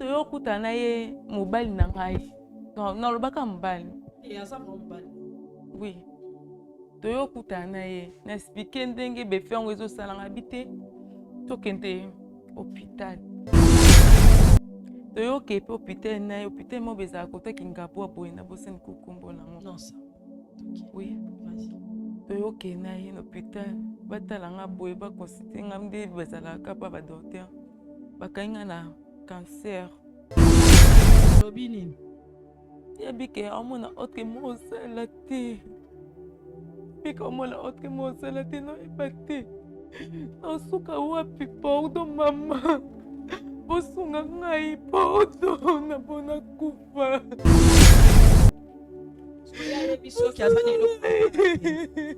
toyo kuta na ye mobali na ngai nalobaka mobali oui toyo kuta na ye na explike ndenge befe yango ezosalanga bi te tokende hopital toyoke mpe hopital na ye hopital moko ezala kota kingabwa boye na bosani kokombo nango oui toyoke na ye na hopital batala nga boye bakonsulte nga nde bazalaka mpa badoktere bakangi nga na cancer lobi nini yebike amona otre mosala te bika omona otre mosala te noyeba te nasuka wapi pordo mama bosunga ngai pordo napona kufa soki aza na eloko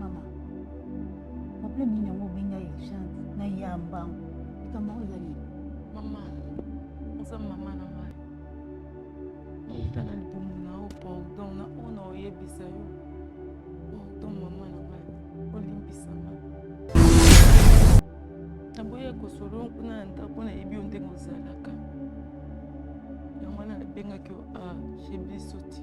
Mama, problème nini yango obenga urgence na ya mbangu? Likambo yango eza nini? Mama, oza mama na ngai. Nauta na libumu na yo pardon na oyo na oyebisa yo. Pardon mama na ngai, olimbisa ngai. Naboya kosolo kuna na ndako nayebi yo ndenge ozalaka. Yango wana nabengaki yo a ah, chez biso ti.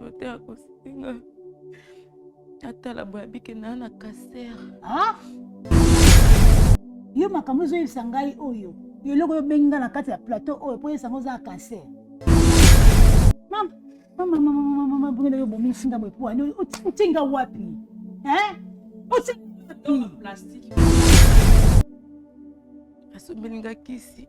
Ote akosinga atala boye abike na na kaser. Ah? Yo makambo ezoyebisa ngai oyo yo eloko oyo obengi ngai na kati ya plateau oyo mpo oyebisa ngai oza kaser. Mama, mama, mama, mama, mama, bongela yo bomisi nga boye pwani otie nga wapi? Eh? Otie nga wapi? Asombeli nga kisi.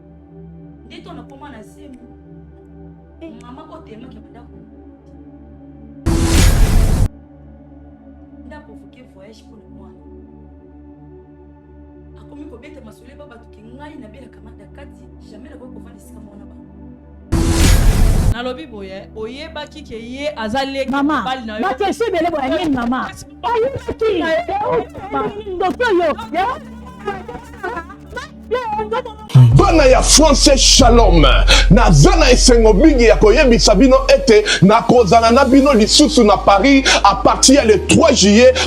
nde to nakoma na zemi eh. mama oyo telemaki ya bandako nde aprovoke voyage mpo na mwana akomi kobeta masolo eba bato ke ngai nabelaka manda kati jamai nakoki kovanda esika mwana bango nalobi boye oyebaki ke ye aza leki mobali na yo bakesho ebele boye nini mama ayebaki ndoki oyo bana ya france shalom naza na esengo mingi ya koyebisa bino ete nakozala na bino lisusu na paris apartir ya le 3 juillet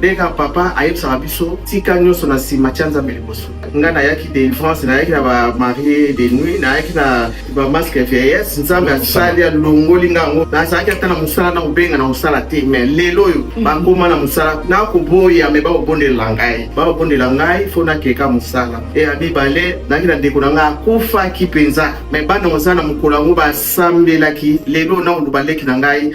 Beka papa ayebisaka biso tika nyonso na nsima tya nzambe liboso ngai nayaki delivrance nayaki na bamarie de nuit nayaki na bamaske ya vieillesse nzambe asali alongoli ngai yango nazalaki ata na mosala na kobenga na kosala te me lelo oyo mm. bakoma na mosala nakoboya me bakobondelela ngai bakobondela ngai fo nakeka mosala e ya mibale nayaki na ndeko na ngai akufaki mpenza me bana oza na mokolo yango basambelaki lelo nakoloba leki na ngai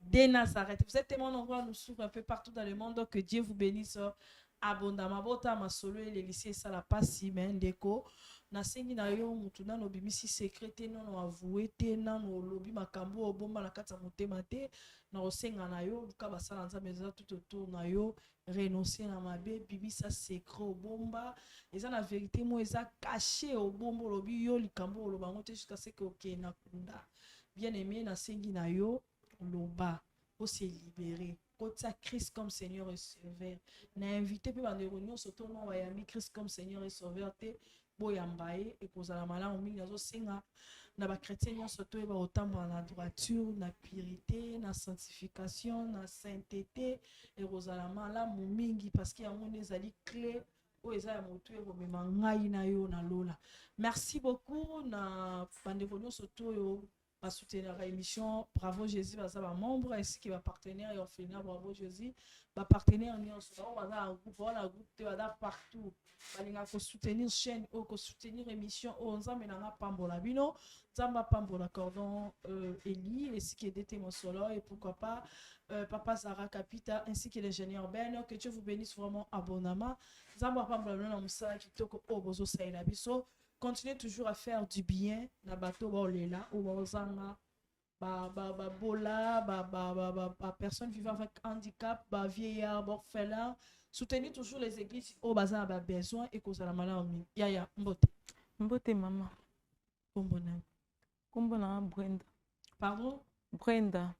de Nazareth. Vous êtes tellement nombreux à nous suivre un peu partout dans le monde, que Dieu vous bénisse abondamment. Bota masolo et les lycées, ça la passe, mais ndeko. nasengi na yo motu nano obimisi sekre te nano avoue te nano olobi makambo obomba na kati ya motema te nakosenga na yo luka basala nzambe eza tout autour na yo renoncer na mabe bimisa secret obomba eza na verite moko eza cache obomba olobi yo likambo oloba yango te jusqu'à ce que okende na kunda bien aimé nasengi na yo loba ose libere kotia christ comme seigneur et sauveur na invité mpe bandeko nyonso to no bayambi christ comme seigneur et sauveur te boyamba ye ekozala malamu mingi azosenga na ba chrétien nyonso toyeba kotambola na droiture na purité na sanctification na sainteté ekozala malamu mingi parce que yango nde ezali clé oyo eza ya motu ekomema ngai na yo na lola merci beaucoup na bandeko nyonso to oyo ba soutenaka émission bravo jésus baza ba membre ainsi que ba partenaire ya orphelina bravo jésus ba partenaire nyonso bango baza na groupe baza na groupe te baza partout balingaka kosoutenir chaîne oyo kosoutenir émission oyo nzambe na nga apambola bino nzambe apambola cordon euh, eli esika edete mosolo et pourquoi pas euh, papa zara kapita ainsi que l'ingénieur ben que dieu vous bénisse vraiment abonama nzambe apambola bino na mosala kitoko oyo bozosalela biso continuer toujours à faire du bien na bato baolela ou baozanga babola ba, ba, ba, ba, ba, personne vivant avec handicap bavieillard borphelin soutenir toujours les églises oyo baza na babesoin ekozala malamu mingi yaya mbote mbote mama nkombo na nkombo na brenda pardon brenda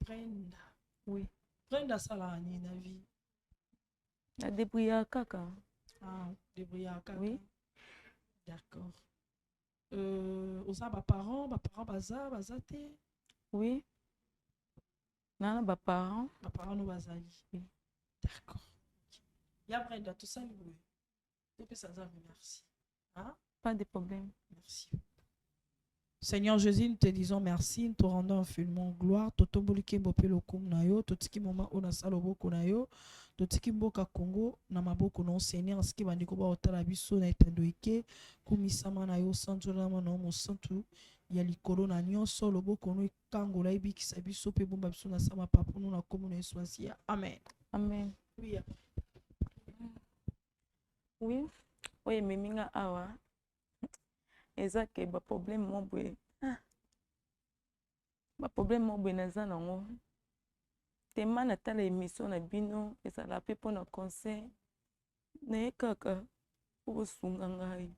brenda oui brenda asalaka nini na vie Na débrouillard kaka. Ah, débrouillard kaka. Oui. D'accord. Euh, oza ba parents, ba parents baza, baza te. Oui. Na ba parents. Ba parents no bazali. Oui. D'accord. Ya Brenda, tout ça, oui. topesa nzambe merci hein? pas de problème merci Seigneur Jésus, nous te disons merci, nous te rendons infiniment gloire. Totomboli kembo pe lokumu na yo, totiki mama ona sala oboko na yo, totiki mboka Congo na maboko na Seigneur, asiki bandeko ba otala biso na etando ike, kumisama na yo sanzolama na yo mosantu ya likolo na nyonso, loboko no ekangola ebikisa biso pe bomba biso na sama papunu na komo na Yesu Amen. Amen. Oui. Oui, oyo ememi nga awa eza ke ba problème moko boye ah, ba problème moko boye naza nango tema natala emission na bino ezala mpe mpo na conseil naye kaka okosunga ngai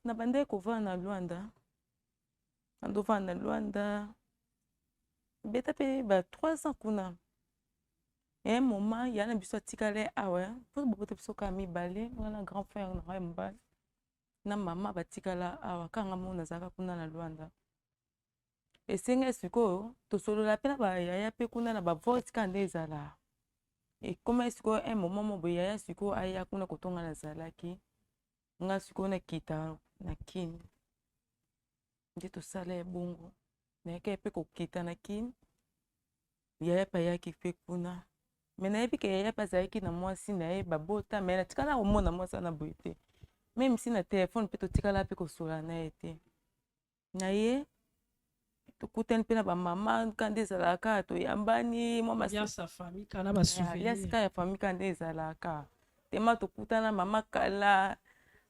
nabandaki kovanda na lwanda andovanda na lwanda beta mpe ba 3 ans kuna un moment ya na biso atikala awa mpo bobota biso kaka mibale wana grand frère na ngai mobali na mama batikala awa kanga mona azalaka kuna na lwanda esengai sikoyo tosolola mpe na bayaya mpe kuna na bavoice kaka nde ezala ekomaki sikoyo un moment mo boyaya sikoyo aya kuna kotonga nazalaki nga sikoyo nakita na kin nde tosala ya bongo nayaka ye mpe kokita na kin yaya mpe ayaki mpe kuna me nayebi ke yaya mpe azalaki na mwasi na ye babota me natikala komona mwasi wana boye te meme si na telefone mpe totikala mpe kosola na ye te na ye tokutani mpe na bamama ka nde ezalaka toyambani mwaliasika ya fami ka nde ezalaka tema tokutana mama kala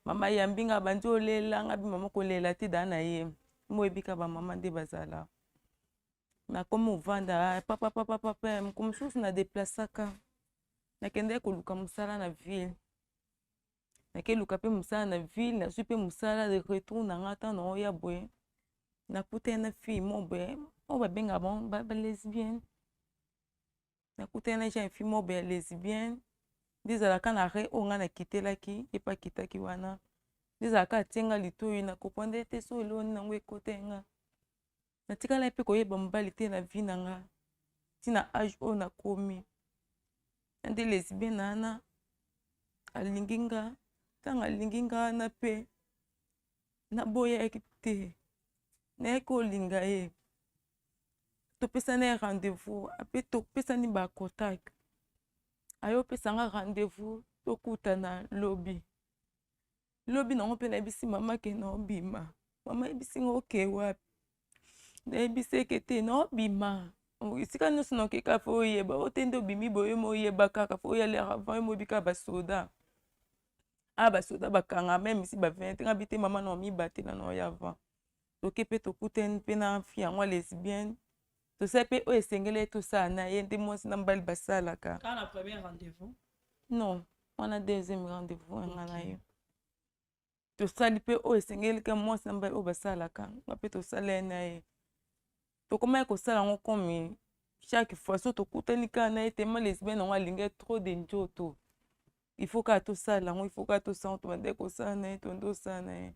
mama yambi nga bandi olela nga bi mama kolela te da na ye moyebi ka bamama nde bazala nakomi ovanda papapapapa moko mosusu na deplasaka nakendaki koluka mosala na ville nake luka mpe mosala na ville nazwi mpe mosala de retour na nga ntango nango ya boye nakutani na fille moko boye oyo babengaka bango balesbienne nakutani na jeune fille moko boye ya lesbienne nde ezalaka na re oyo ngai nakitelaki ye mpe akitaki wana nde ezalaka atie ngai litoi na comprendre te so eloni nango ekote nga natikala pe koyeba mobali te na vie na nga ti na age oyo nakomi na nde lesbien na ana alingi nga ntango alingi nga wana mpe naboyaki te nayaki olinga ye topesana ye rendez-vous ape topesani bacontact aye opesanga rendez-vous tokutana lobi lobi nango mpe nayebisi mama ke naobima mama ayebisi nga oke wapi nayebisi eke te naobima esika nyonso nakeka fo oyeba o te nde obimi boye mo oyeba kaka fo oya lere avant yo moyebi kaka basoda a basoda bakanga meme si ba 20 nga bi te mama na omibatela na oya avant toke mpe tokutani mpe na fi yango ya lesbienne tosala mpe oyo esengeli ye tosala na ye nde mwasi na mobali basalaka non wana deuxième rendez-vous yanga na yo tosali mpe oyo esengeli ka mwasi na mobali oyo basalaka nga mpe tosala ye na ye tokomaki kosala yango komi chaque fois so tokutani kaka na ye tema lesbienne yango alingi trop de njoto il faut kaka tosala yango il faut kaka tosala yango tobandaki kosala na ye tonde osala na ye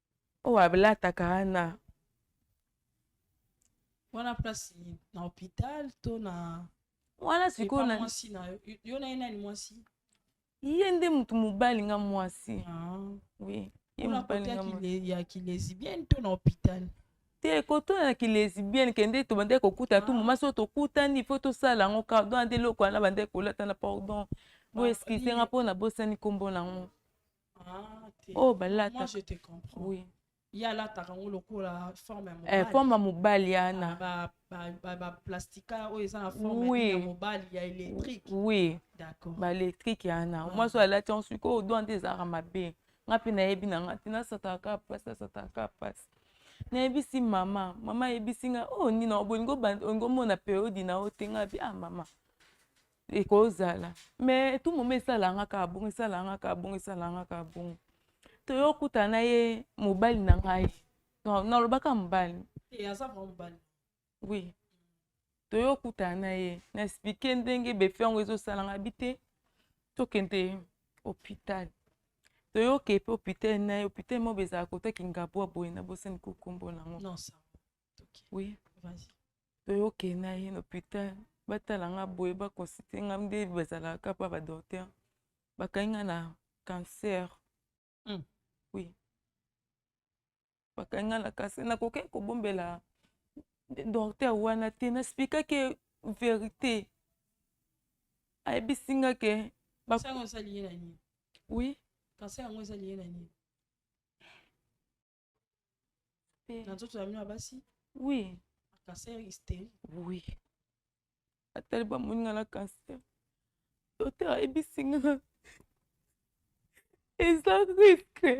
oyo alataka wana wana place na hôpital to na wana sikoyo na mwasi na yo yo na ye nani mwasi ye nde motu mobali nga mwasi ah. oui ye mobali nga mwasi ya kilesibienne to na hôpital te kotuna na kilesibienne kende tobandaki kokuta tu ah. moma soki tokutani ifo tosala yango cardon ande eloko wana bandaki kolata na pardon bo eskize nga mpo nabosani nkombo na yango Ah, t'es- oyo Moi, balataka je te comprends. oui. Ye alataka yango lokola forme ya eh, mobali. forme ya mobali Ah, yana ba- ba- ba- ba plastica oyo eza na forme Oui. ya mobali ya électrique. oui D'accord. baelektrike yana Ah. mwasi oyo alati yango soki oyo doa nde ezalaka mabe nga mpe nayebi na nga te nasataka kaka mpasi nasataka kaka mpasi nayebisi mama mama ayebisi nga oyo nini obolingi olingi omona periode na yo te nga bi ah mama ekozala mais tout moment esalanga kaka bongo esalanga kaka bongo esalanga kaka bongo toyokuta na ye mobali na ngai nalobaka mobali oui toyokuta na ye na explike ndenge befe yango ezosalanga bi te tokende hopital toyoke mpe hopital na ye hopital moko ezala kota kingabwa boye na bosani kokombo nango oui vas-y toyoke na ye na hôpital batala nga boye baconsulte nga nde bazalaka kaka mpa badocteur bakangi nga na cancer mm. oui bakangi nga na cancer nakokaki kobombela docteur wana te nasplikaki verité ayebisi nga ke oui cancer yango ezali ye na nini na nzoto na bino ya basi oui cancer hystérique oui atali bamoni nga na cancer doter ayebisi nga eza riske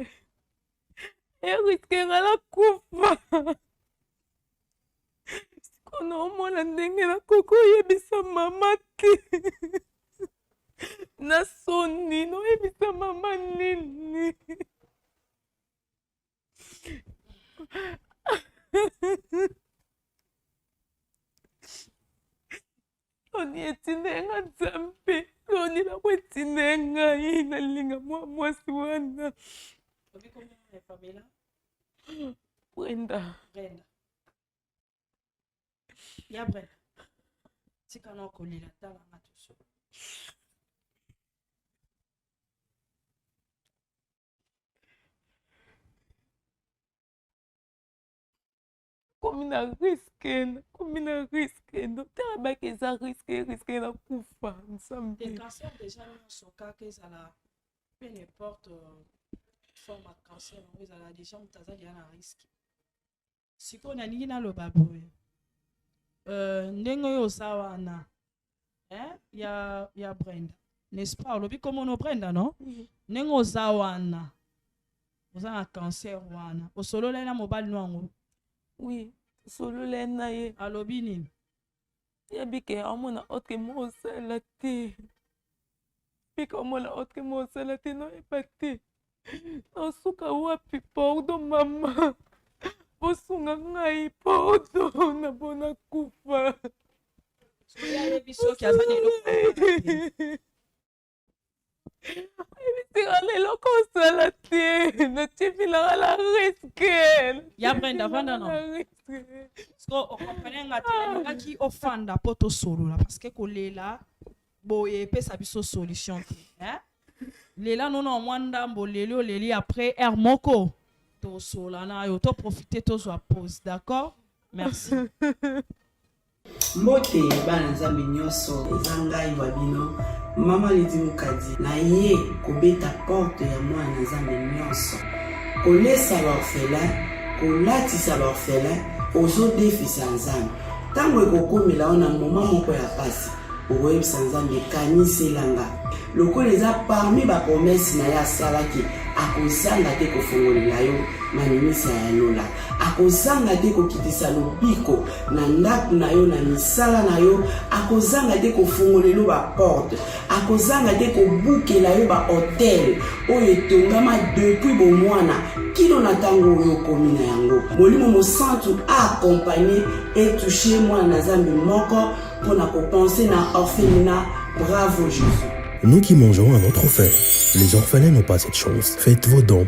eriske nga nakufa siko naomona ndenge nakoki oyebisa mama te na soni noyebisa mama nini loni etinda ya nga nzambe loni lako etinda ya ngai nalinga mwa mwasi wana brenda brenda ya brenda tika na okolela tala nga tosolo komi na riske komi na riske docteur abaki eza riske riske na kufa nsambe cancer déjà nyonso kaka ezala peu n'importe euh, forme ya cancer yango ezala déjà moto azali ya na riske sikoyo nalingi naloba boye uh, ndenge oyo oza wana eh? ya, ya brenda n'est-ce pas olobi komono brenda no mhm. ndenge oza wana oza na cancer wana osololai na mobali no yango oui osololai na ye alobi nini ya bike amona otke mo osala te bike omona otke mo osala te noyeba te nasuka wapi pordo mama bosunga ngai pordo na bona kufa soki ayebi soki aza na eloko tirana eloko osala te natiepilaka na riske ya brenda vanda na siko okomprene nga te nalingaki ofanda mpo tosolola parceke kolela boye epesa biso solution te eh? lela nono mwa ndambo oleli oleli après heure moko tosola na yo toprofite tozwa pose d'accord merci Mbote bana Nzambe nyonso, eza ngai wa bino mama Lidi Mukadi, naye kobeta porte ya mwana na Nzambe nyonso, kolesa baorphelin, kolatisa baorphelin, ozodefisa Nzambe. Ntango ekokomela yo na moma moko ya mpasi, okoyebisa Nzambe kaniselanga, lokola eza parmi bapromese na ye asalaki, akozanga te kofongolela yo maninisa ya lola. akozanga te kokitisa lobiko na ndako na yo na misala na yo akozanga te kofungolelo baporte akozanga te kobukela yo bahotel oyo etongama depuis bomwana kino na ntango oyo okomi na yango molimo mosantu aakompagne etouche mwana na zambe moko mpo na kopense na orphelina bravo jésus Nous qui mangeons à notre faim, les orphelins n'ont pas cette chance. Faites vos dons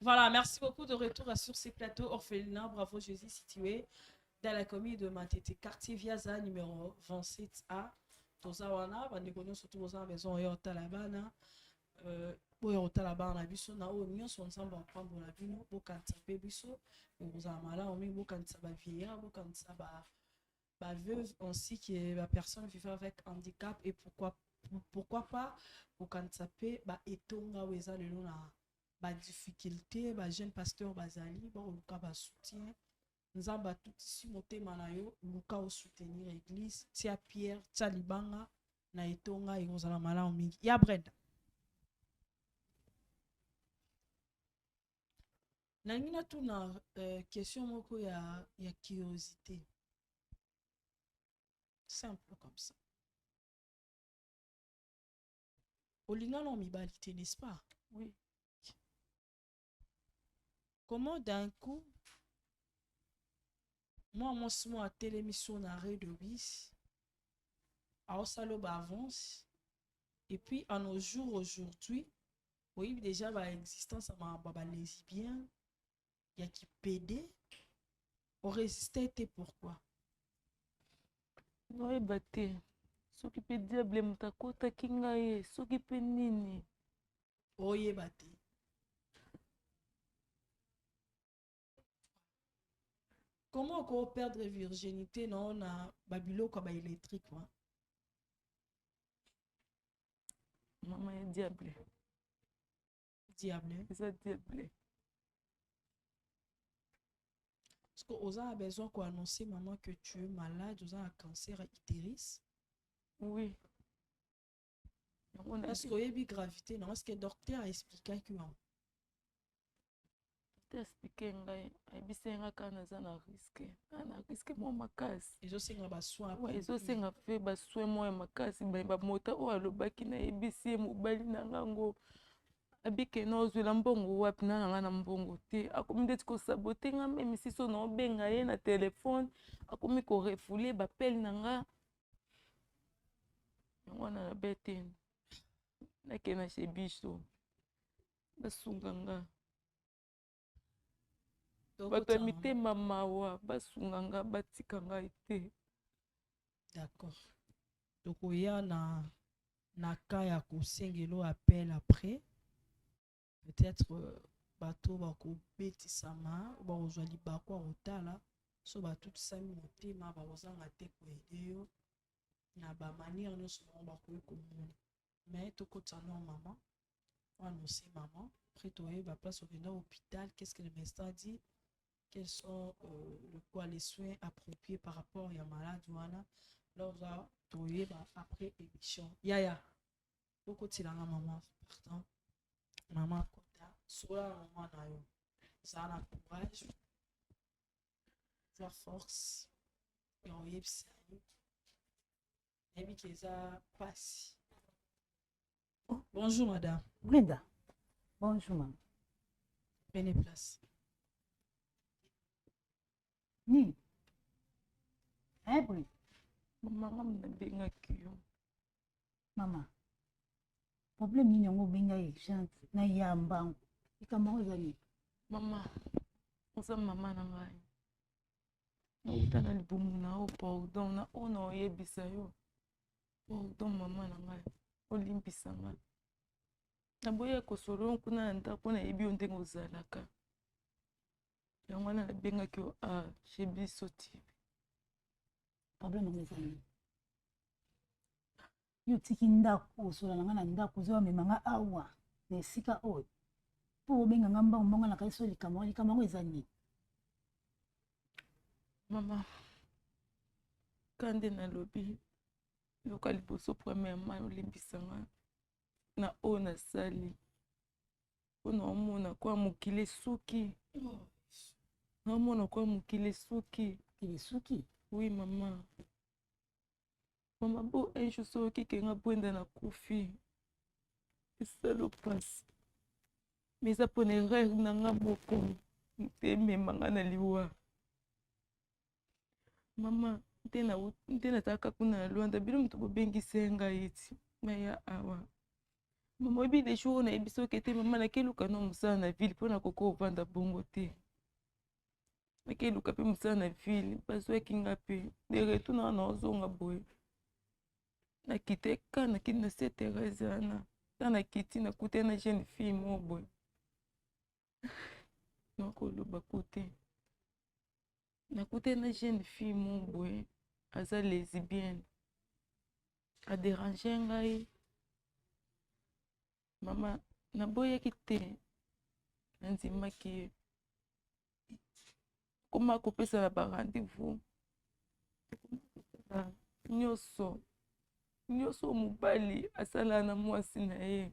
Voilà, merci beaucoup de retour sur ces plateaux orphelins. Bravo Jésus, situé dans la commune de Matete, quartier Viaza, numéro 27A. toza wana bandeko nyonso tu boza na maison oyo otala bana euh, boya kotala bana na biso na oyo nyonso nzambe apambola bino bokanisa mpe biso ekozala malamu mingi bokanisa bavieillard bokanisa ba ba veuves ainsi que ba personnes vivant avec handicap et pourquoi pourquoi pas kokanisa mpe ba etonga oyo eza lelo na ba difficulté ba jeune pasteur bazali bakoluka ba soutien nzambe atutisi motema na yo luka osoutenir église tia pierre tia libanga na etonga ekozala malamu mingi ya brenda nalingi natuna uh, question moko ya, ya curiosité simple comme ça olingana na mibali te n'est-ce pas oui comment d'un coup mwa mwasi moko atelemi so na arret de bis aosala ba avance et puis à nos jours aujourd'hui oyebi deja ba existence ya makambo ya ba lesbien ya kipede oresiste te pourquoi naoyeba te soki mpe diable moto akotaki ngai ye soki mpe nini oyeba te comment oko perdre virginité na yo na babiloko ya baélectrique wana mama ya diable diable eza diable parce que oza na besoin koannonce maman que tu es malade oza na cancer ya utéris oui Est-ce que oyebi gravité non? Est-ce que docteur a expliqué que non? Docteur expliqué ngai, ayebisi ngai kaka naza na risque, ah, na risque mwa makasi. Ezosenga ba soins. Ouais, ezosenga mpe ba soins mwa ya makasi, ba mota oyo alobaki nayebisi ye mobali na ngai yango abike na ozwela mbongo wapi na nanga na mbongo te akomi ndeti kosabote nga meme siso naobenga ye na telefone akomi korefoule bapele na nga yango wana na bete nakei na chez biso basunga nga bato ya mitema mawa basunga nga batika ngai te d'accord tokoya na na cas ya kosengelo appel après peut-être euh, bato bakobetisama bakozwa libaku ya kotala so batutisami motema bakozanga te koyede yo na bamaniere nyonso bango bakoki komona mai tokotisa no mama oanonse mama après toyeba place okenda hôpital qu'est ce que le mestin dit quels sont euh, le quoi les soins appropriés par rapport ya malade wana loza toyeba après émission yaya yeah, yeah. okotela nga maman pardon maman kota sola na maman na yo zala na courage zwa force ya oyebisa ye nayebi ke eza mpasi oh, bonjour madame brenda bonjour mama pene place nini ebri mama nabengaki yo mama problème nini yango obenga ye urgence na ya mbangu likambo yango eza nini mama oza mama na ngai nauta na libumu na yo pardon na oyo na oyebisa yo pardon mama na ngai olimbisa ngai naboya kosolo kuna na ndako nayebi yo ndenge ozalaka yango wana nabengaki yo a ah, chez biso tv problème yango eza nini yo otiki ndako osola na nga na ndako ozo bamema nga awa na esika oyo mpo obenga nga mbango mbango na kanisi oyo likambo yango likambo yango eza nini mama kande nalobi yoka liboso premièrement olimbisa nga na oyo nasali mpo naomona kwa mokili esuki naomona kwa mokili esuki mokili esuki oui mama mama bo un jour soki okeke nga bwenda na kufi esalo mpasi ma eza mpona erreur na nga moko mpe emema nga na liwa mama nte na nte nazalaka kuna na lwanda bino moto bobengisi ngai ti naya awa mama oyebi le jour oyo nayebi soki ete mama nakeluka no mosala na ville mpo na koko ovanda bongo te nakeluka mpe mosala na ville bazwaki nga mpe de retour na wana ozonga boye nakite ka nakiti na se therese wana ta nakiti nakutani na jeune fille moko boye nakoloba kote nakuta na jeune fille mo boye aza lesbienne aderange ngai mama naboyaki te nandimaki ye koma kopesa na ba rendez-vous nyonso nyonso mobali asala na mwasi na ye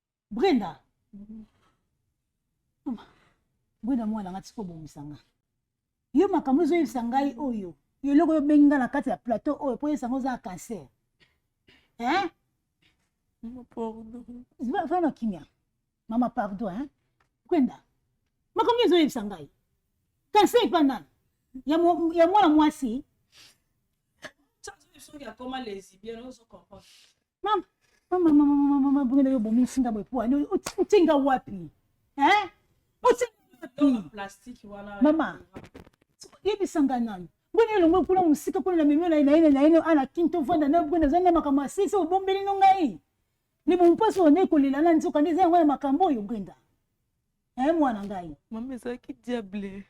brenda mama brenda mwana nga tika obongisa nga yo makambo ezoyebisa ngai oyo yo eloko oyo obengi nga na kati ya plateau oyo mpo oyebisa nga oza ya cancer hein fana kimia mama pardon hein brenda makambo ezoyebisa ngai cancer epa nani ya mwana mwasi soki akoma lesibien ozo comprendre mama mama mama mama mama bongo yo bomi singa boye po ani otinga wapi hein otinga wapi plastique wana mama yebisa nga nani boni elongo kuna mosika kuna na memi naye naye naye ana kin tovanda na boni azali na makambo ya sese obombeli no ngai libo mpasi oyo naye kolela na nzoka nde eza yango ya makambo oyo brenda e mwana ngai mama ezalaki diable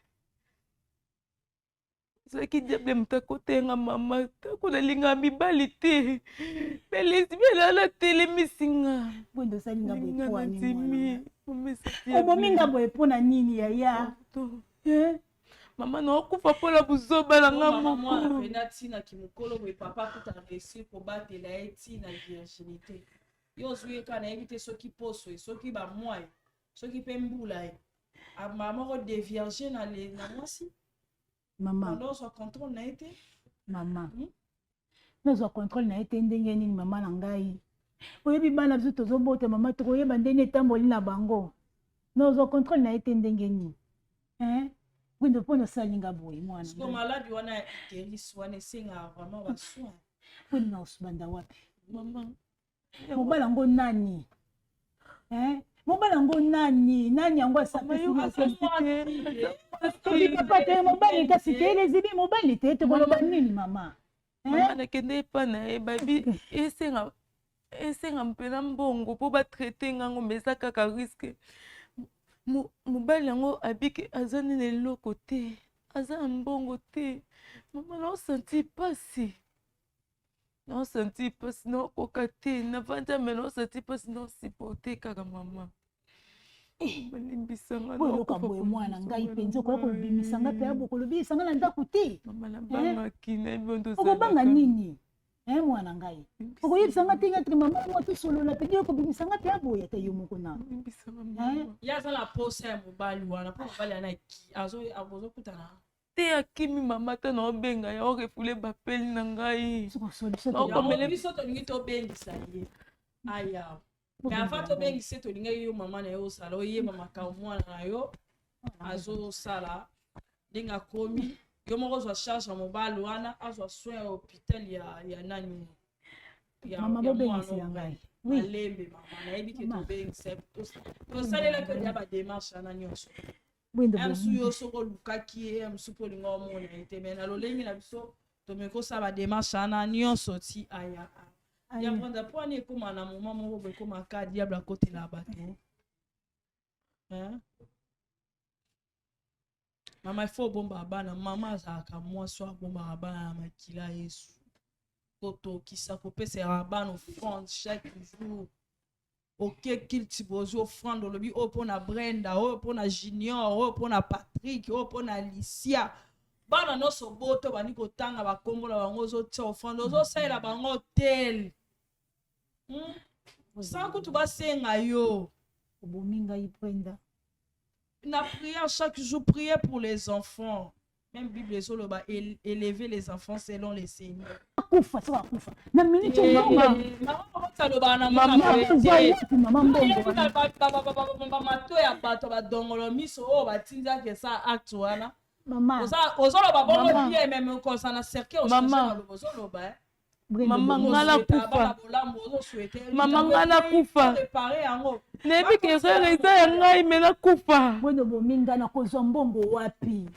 ezalaki diable moto akotenga mama ntango nalingaka mibali te me lesbiana natelemisi nga nandimi obomi nga boye mpo na nini yaya eh? mama naokufa mpo na buzoba na nga mokoena ntina kimokolo boye papa kuta resi kobatela ye ntina virginité yo ozwi ye ka nayebi te soki poso ye soki bamwai soki mpe mbula ye mama moko devierge na mwasi mama nazwa controle na ye te mama hmm? nazwa controle na ye te ndenge nini mama na ngai oyebi bana biso tozobota mama tokoyeba ndenge etamboli na bango nazwa controle na ye te ndenge nini windo mpo nasalinga boye mwanamaladi wana ya itelis wana esengaka vraiment basoin mpo ninaosubanda wapi mobali yango nani eh? mobali yango nani nani yango asapapa te mobali kasi te elezili mobali te tokoloba nini mama eh? nakende epa na ye babi esenga esenga mpena mbongo mpo batraite ngango ma eza kaka riske mobali yango abiki aza nini eloko te aza na mbongo te mama naosanti mpasi naosanti mpasi naokoka te navandi ame naosanti mpasi naosipote kaka mama bolimbisangalokoka boye mwana ngai mpenza okoya kobimisa ngai mpe bokolobi esanga na ndako te okobanga nini e mwana ngai okoyebisa ngai te ngati mama mwa tosolola mpe yo kobimisa ngai mpe aboye ata yo moko na ye aza na posa ya mobali wana mpo mobali wana azokutana te akimi mama ata na obenga ya orefule bapeli na ngai biso tolingi tobengisa ye aya me avant tobengisa ye tolingaki yo mama na yo osala oyeba makambo mwana na yo azosala ndenge akomi yo moko ozwa charge ya mobali wana azwa soin ya hôpital ya, ya nani ya, mama ya bobengisa ya ngai malembe mama nayebi ke tobengisa tosalelaki olia badémarche wana nyonso msu yo soki olukaki ye msu mpo olinga omona ye te mai na lolenge na biso tomekoki kosala bademarche wana nyonso ti aya yango nda mpo wana ekóma na moma moko bo ekóma ka diable akotela bato mama ifo obombaka bana mama azalaka mwasi oyo abombaka bana na makila yesu kotokisa kopesaka bana offrande chaque jour oke kilti bozi ofrande olobi oyo mpo na brenda oyo mpo na junior oyo mpo na patrick oyo mpo na alicia bana nyonso boto bandi kotanga bakombo na bango ozotia ofrande ozosalela bango tel hmm? sa kutu basenga yo obomi ngai brenda na prière chaque jour prier pour les enfants Même Bible ezo loba élever les enfants selon les signes. Akufa soka akufa. Na minute eh, mbongo. Eh, mama kobota loba na mama. Mama mbongo. Mama mato ya bato ba dongolo miso oyo oh, batinda ke sa acte wana. Mama. Oza ozo loba bongo bien même kosa na cercle ozo loba. Eh. mama nga nakufa mama nga nakufa nayebi ke erreur eza ya ngai me nakufa bwendo bomi nga nakozwa mbongo wapi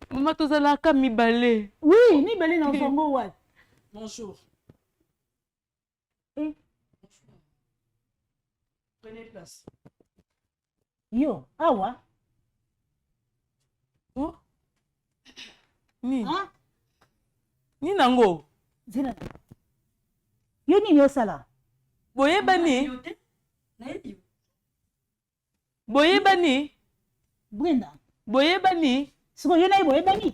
mama tozalaka mibale wi mibale na mbongo wapi bonjour eh? prenez place yo awa oh. nini ah? nini yango zela yo nini osala boyebani boyebani brenda boyebani sikoyo yo naye boyebani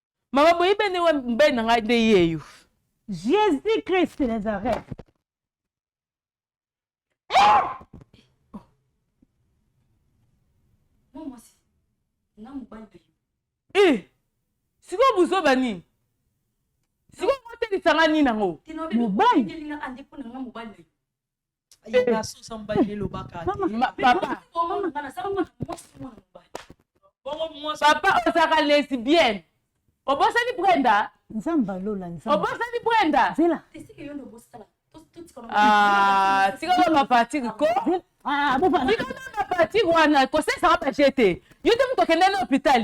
mama boyi bene wa mbei na ngai nde yeyo jésus christ nazareth eh! eh! sikoyo buzoba nini sikoyo otelisanga nini yango mobali papa ozalaka lesbienne obosani brenda nzambe alola nzambe obosani brenda zela ah tika ko ba partir ko ah bo ba tika ko ba partir wana ko sesa ba jete yo te mutokende na hôpital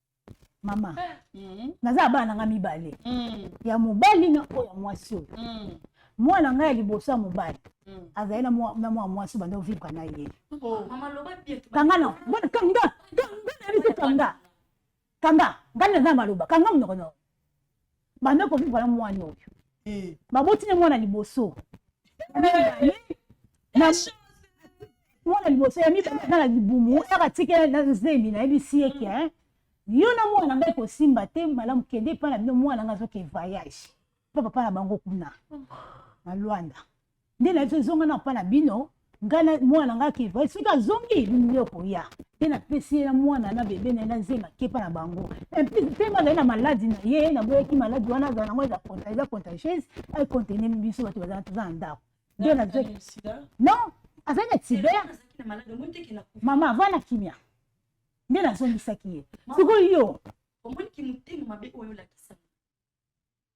mama mm. naza bana na ngai mibale mm. ya mobali na oyo ya mwasi oyo mm. mwana ngai ya liboso ya mobali mm. azali na mwana mwasi banda ovivre na ye oh. kanga na kanga kanga kanga ngai naza maloba kanga monoko na banda kovivre na mwana oyo eh. baboti na mwana liboso mwana liboso ya mibale na libumu aka tikela na zemi nayebisi ye ke yo na mwana ngai kosimba te malamu kende epai na bino mwana ngai azoke voyage mpo papa na bango kuna na lwanda nde na biso ezonga na papa na bino ngai na mwana na ngai akeva soki azongi bino okoya nde napesi ye na mwana na bebe na ye na nzemba kepa na bango emplis ntango azali na maladi na ye naboyaki maladi wana azala nango eza contagieuse acontenemi biso bato bazala toza na ndako nde nazwaki non azali na tiber mama avana na kimia nde nazongisaki ye sikoyo yo omoni kimotema mabe oyo olakisa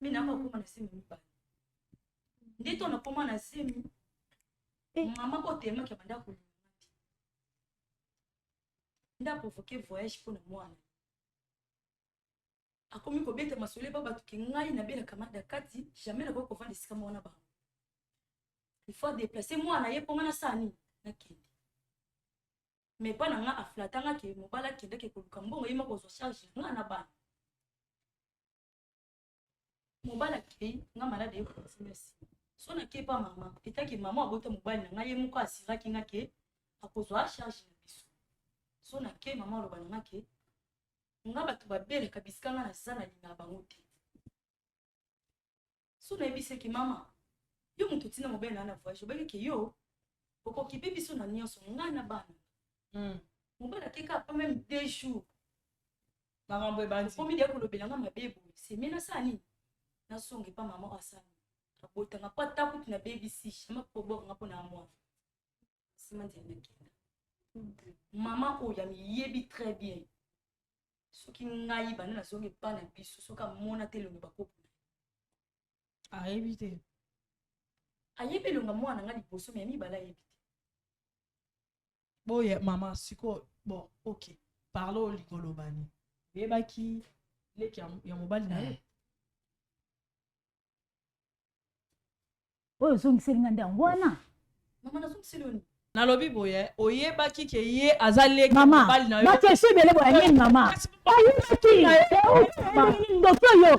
me na yango akoma na semi mibale nde to nakoma na semi eh. mama oyo temaki abanda kolinga te nde aprovoke voyage mpo na mwana akomi kobeta masolo epa bato ke ngai nabelaka mada kati jamais nakoki kovanda esika mwana bango il faut adeplace mwana ye mpo ngai nasala nini nakende me epa na ngai aflatangaki mobali akendaki koluka mbongo ye moko ozwa charge ngai na bana mobali akei nga malade ye continue nsima so nake epa mama etake mama abota mobali na ngai ye moko asiraki nga ke akozwa charge na biso so nake mama aloba na nga ke nga bato babelaka bisika nga naza na linga bango te so nayebisaki mama yo moto otina mobele na na voyage obaki ke yo okokipe biso na nyonso ngai na bana hmm. mobali akeka pa meme deux jours makambo ebandiomi deya kolobela nga mabe boye semi nasala nini nazonga epa mama oyo asala abotanga mpo ata kutu na bebisi jama kobokanga mpo na mwa nsima nzela nakenda mama oyo amiyebi très bien soki ngai banda nazongi epa na biso soki amona te elongo bakoko na ayebi te ayebi elonga mwana na ngai liboso me ya mibale ayebi te boye mama sikoyo bon ok parle olingi olobani oyebaki leki ya mobali na ye oyo ozongiseli nga nde yango wana mama nazongiseli yo nini nalobi boye oyebaki ke ye aza leki mobali na yobakesi ebele boya nini mama ayebaki ndoki oyo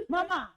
mama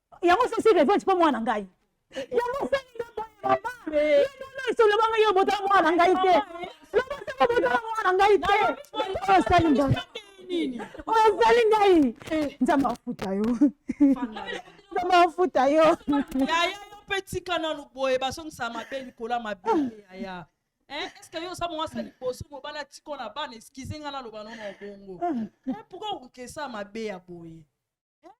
yango sosi revenge mpo mwana ngai yango osali nde boye mama esolobanga yo botala mwana ngai te lobosaka botala mwana ngai te osali ngai osali ngai eh. nzambe afuta yo nzambe afuta yo yaya yo mpe tika nanu boye bazongisa mabe likolo ya mabe yaya Eh, eske yo oza mwasa liboso mobali atiko na bana eskize ngai naloba nono bongo eh, pourkoi okesa mabe ya boye eh?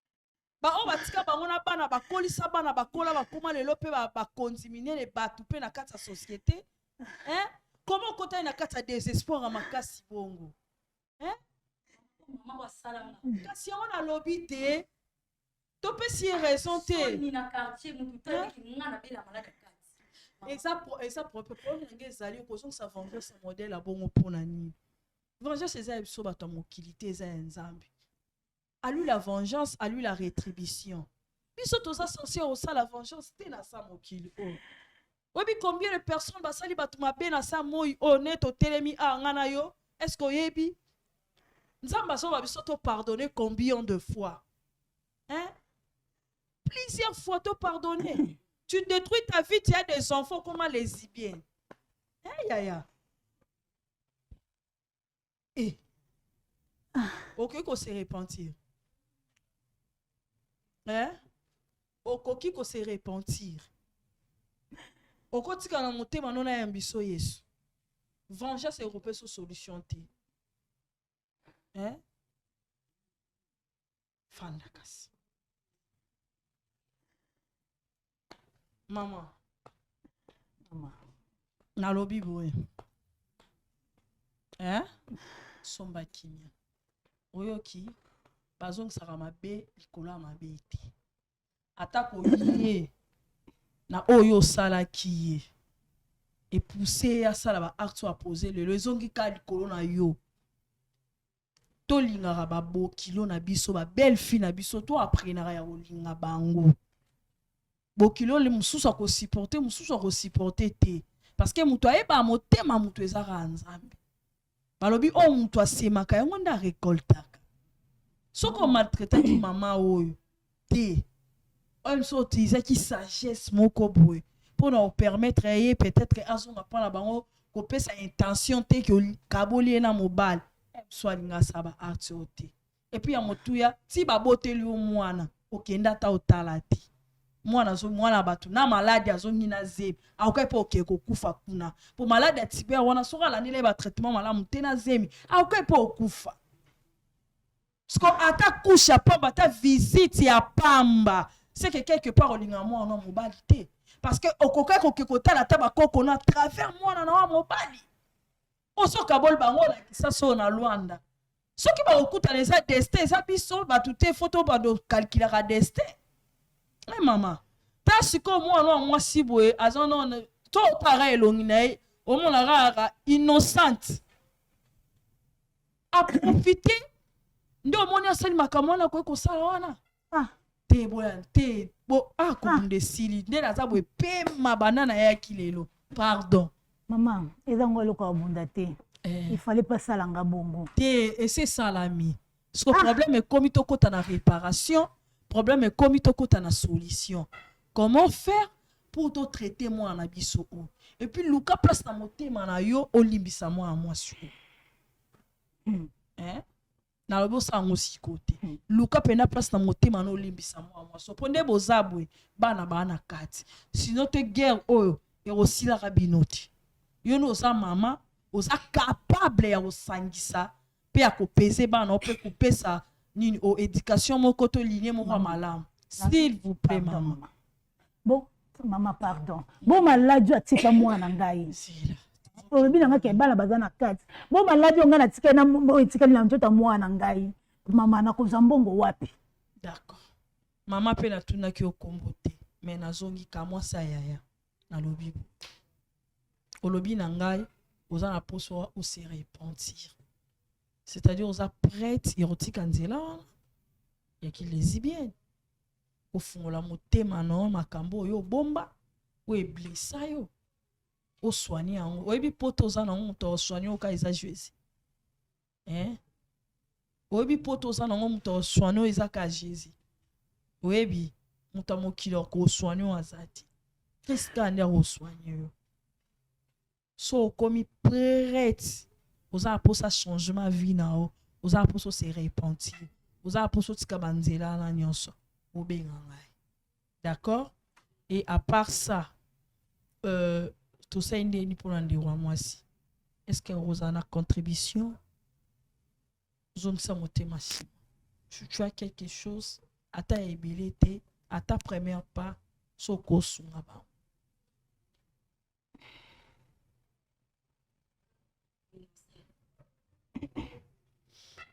baoyo batika bango na bana bakolisa bana bakola bakoma lelo mpe bakonzi minene bato mpe na kati ya société eh? koma okotani na kati ya désespoir ya makasi bongo eh? kasi yango nalobi te topesi ye raison te eza problème na ngai ezali okozongisa vengeance modèle abongo mpo na nini vengeance eza ya biso bato ya mokili te eza ya nzambe alui la vengeance alui la retribution biso toza sense kosala vengeance te na sa mokili oyo oyebi combien de personnes basali bato mabe na sa moi oyo ne totelemi a nga na yo est ce que oyebi nzambe azoba biso topardonne combien de fois hein? plusieurs fois topardonne tu détruis ta vie tu as des enfants comment les bien hein, yaya Eh. Ah. Okoki ko se repentir. Hein? Okoki ko se repentir. Okotika na motema nona ya biso Yesu. Vengeance européenne solution te. Hein? fanda kasi mama mama nalobi boye eh? somba kimia oyoki bazongisaka mabe likolo ya mabe te atako ye na oyo osalaki ye epuse ye asala baacte oyo apose lelo ezongi kaka likolo na yo tolingaka babokilo na biso babelle fille na biso to aprenaka ya kolinga bango bokilo le mosusu akosupporte mosusu akosupporte te parce que moto ayeba motema moto ezaka nzambe balobi oyo oh, moto asemaka yango nde arekoltaka soki omaltretaki mama oyo te oyo biso otilizaki sagesse moko boye mpo na opermettre ya ye peut-être azonga mpo na bango kopesa intention te ke okaboli ye na mobali eh, biso alinga sa ba arts oyo te epuis ya motuya ti baboteli yo mwana okenda ata otala te mwana azo mwana bato na maladi azongi na zemi akoki mpe okee kokufa kuna mpo maladi ya tiber wana soki alandeli ye batraitement malamu te na zemi akoki mpe okufa Siko ata couche ya pamba ata visite ya pamba seke quelque part olinga mwana wa mobali te parce que okokai koke kotala ata bakoko na travers mwana na wa mobali osokaboli bango olakisa soo na lwanda soki bakokutana eza destin eza biso bato te fo to bando kalkilaka destin e eh, mama ta sikoyo mwana wa mwasi boye aza none to otaka elongi na ye omonaka kaka innocente aprofite nde omoni asali makambo wana akoki kosala wana ah. te boya te bo akobunda ah, ah. esili nde naza boye pema banda nayaki lelo pardon mama eza ngo eloko abunda te eh. ifale mpe asala nga bongo te esi esalami siko ah. problème ekomi tokɔta na réparation problème ekomi tokɔta na solution comment faire pour totraite mwana na biso oyo epuis luka place na motema na yo olimbisa mwana mwasi oyo eh? nalobi osala ngo siko te hmm. luka mpena place na motema na olimbisa mwa mwaso mpo nde boza boye bana baa na kati sino te guerre oyo ekosilaka bino te yo nde oza mama oza capable ya kosangisa mpe ya kopese bana mpe kopesa nini o oh, éducation moko to linie moko ya hmm. malamu s'il vous plaît mama bo mama pardon bo maladi atika mwana ngai olobi na ngai ke bana baza na kati bo maladi ongai natikali na oyo etikali na nzoto ya mwana ngai mama nakozwa mbongo wapi d'accord mama mpe natunaki yo kombo te me nazongi kamwasi ya yaya nalobi bo olobi na ngai oza na poso ose repentir c'est-à-dire oza prête ya kotika nzela wana ya kilesibienne kofungola motema na yo makambo oyo obomba oyo eblesa yo oswani yango oyebi poto oza nango moto oswani oyo ka eza jezi eh? oyebi poto oza nango moto oswani oyo eza ka jezi oyebi moto ya mokili akoswani oyo aza te kristo nde akoswani yo so okomi prete oza na mposa changement vie na yo oza na mposa ose repentir oza na mposa otika banzela wana nyonso obenga ngai d'accord et à part ça euh, tosali ndeni mpona ndeko ya mwasi est ce que okozala na contribution zongisa motema nsima tu as quelque chose ata ya ebele te ata première part so okosunga bango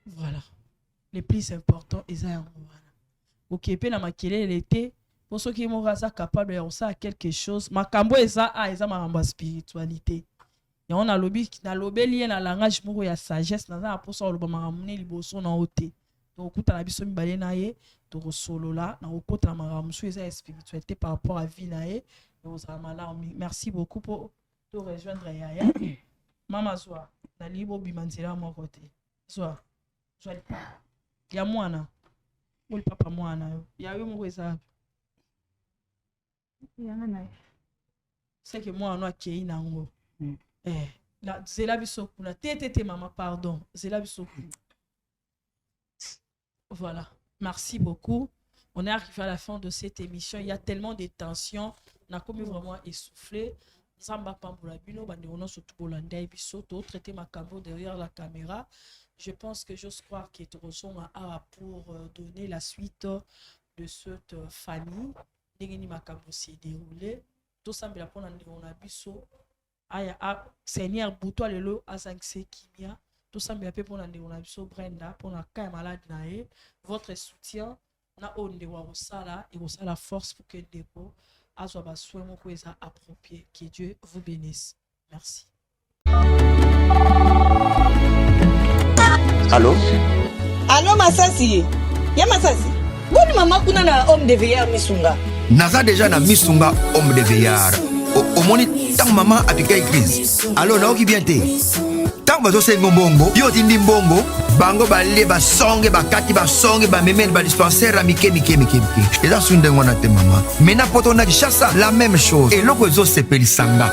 voilà le plus important eza yango wana oke mpe na makelele te mpo soki moko aza capable ya kosala quelque chose makambo eza a ah, eza makambo ya spiritualité yango nalobi nalobeli ye na langage moko ya sagesse naza na mposa koloba makambo ne liboso na yo te tokokutana biso mibale na ye tokosolola na kokota na makambo mosusu eza ya spiritualité par rapport à vie na ye ekozala malamu merci beaucoup mpo to rejoindre yaya mama zwa nalingi bobima nzela moko te zwa zwa lipapa ya mwana o lipapa mwana yo ya yo moko eza yanga na seke mwana no akei na yango mm. eh, na, zela biso kuna te te te mama pardon zela biso kuna voilà merci beaucoup on est arrivé à la fin de cette émission il y a tellement de tensions nakomi vraiment essoufflé nzambe apambola bino bandeko nyonso tokolanda ye biso totraite makambo derrière la caméra je pense que j'ose croire que tokozonga awa pour euh, donner la suite de cette euh, famille ndenge nini makambo se deroule tosambela mpona ndeko na biso aya a seigneur butu ya lelo azangisa kimia tosambela mpe mpona ndeko na biso brenda mpona ka ya malade na ye votre soutien na oyo ndeko akosala ekosala force pour que ndeko azwa basoin moko eza approprie que dieu vous bénisse merci Allô Allô Masasi Ya Masasi Boni mama kuna na homme de veilleur misunga Naza déjà na misunga homme de veilleur omoni ntango mama apikaki crise alo nayoki bien te ntango bazosengo mbongo yo otindi mbongo bango balie basonge bakati basonge bamemeli badispensaire ya mike mike mike mike eza su ndenge wana te mama mena poto na kishasa la même chose eloko ezosepelisa nga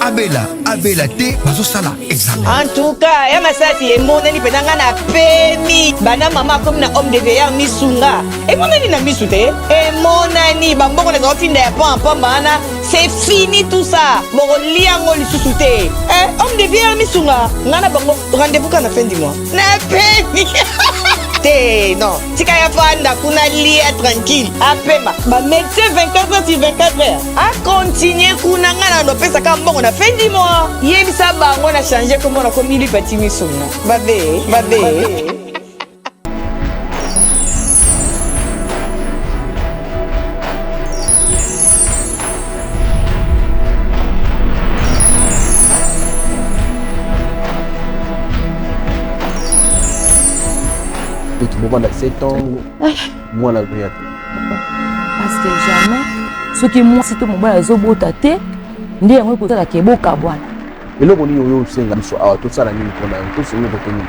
abela abela te bazosala examen en tout cas ya masasi emonani mpenza ngai na pemi bana mama akomi na homme de veilleur misunga emonani na misu te emonani bambongo na zaofinda ya pan mpamba wana c'est fini tout ça bokolia yango lisusu te eh, homme de veilleur misunga ngai na bango rendez-vous ka na fin du mois na pemi te non tika ya fanda kuna lia tranquille apema ba médecin 24 heures sur 24 heures a continue kuna ngai na nopesa kaka mbongo na fin du mois yebisa bango na change kombo na komi lipati misuna babe babe Tout le monde a 7 ans. mwana azoya te parce que jamais soki mwasi to mobali azobota te nde yango ekosala ke bokabwana eloko nini oyo osenga biso awa tosala nini mpona yango tosengi kote nini